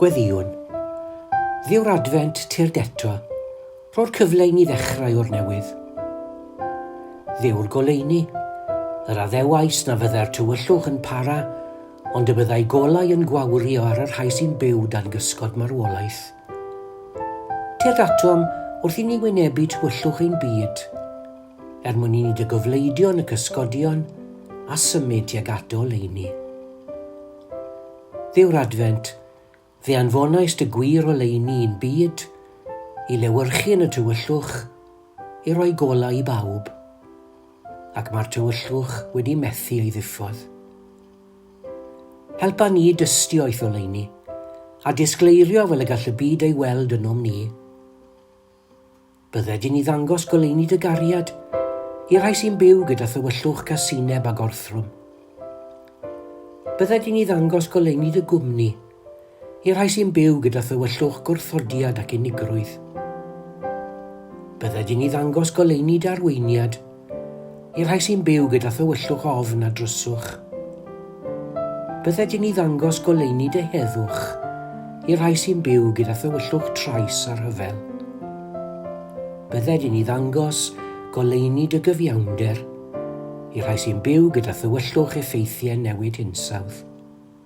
Gweddïwn. Ddi yw'r Adfent, tyrd eto, ro'r cyfle i ni ddechrau o'r newydd. Ddi yw'r goleuni, yr addewais na fyddai'r tywyllwch yn para, ond y byddai golau yn gwawrio ar y rhai sy'n byw dan gysgod marwolaeth. Tyrd atom wrth i ni wynebu tywyllwch ein byd. Er mwyn i ni dy gofleidio yn y cysgodion a symud tuag at dy oleuni. Dduw'r Adfent, fe anfonais dy gwir oleuni i'n byd, i lewyrchu yn y tywyllwch, i roi golau i bawb. Ac mae'r tywyllwch wedi methu ei ddiffodd. Helpa ni i dystio i'th oleuni, a disgleirio fel y gall y byd ei weld ynom ni. Bydde dyn i ddangos goleuni dy gariad i rai sy'n byw gyda thywyllwch casineb a gorthrwm. Bydde dyn i ddangos goleuni dy gwmni i rai sy'n byw gyda thywyllwch gwrthodiad ac unigrwydd. Bydde dyn i ddangos goleuni dy arweiniad I'r rhai sy'n byw gyda thywyllwch ofn a dryswch, bydde dyn i ddangos goleuni deheddwch i'r rhai sy'n byw gyda thywyllwch trais a rhyfel. Bydde dyn i ddangos goleuni dy gyfiawnder i'r rhai sy'n byw gyda thywyllwch effeithiau newid hinsawdd.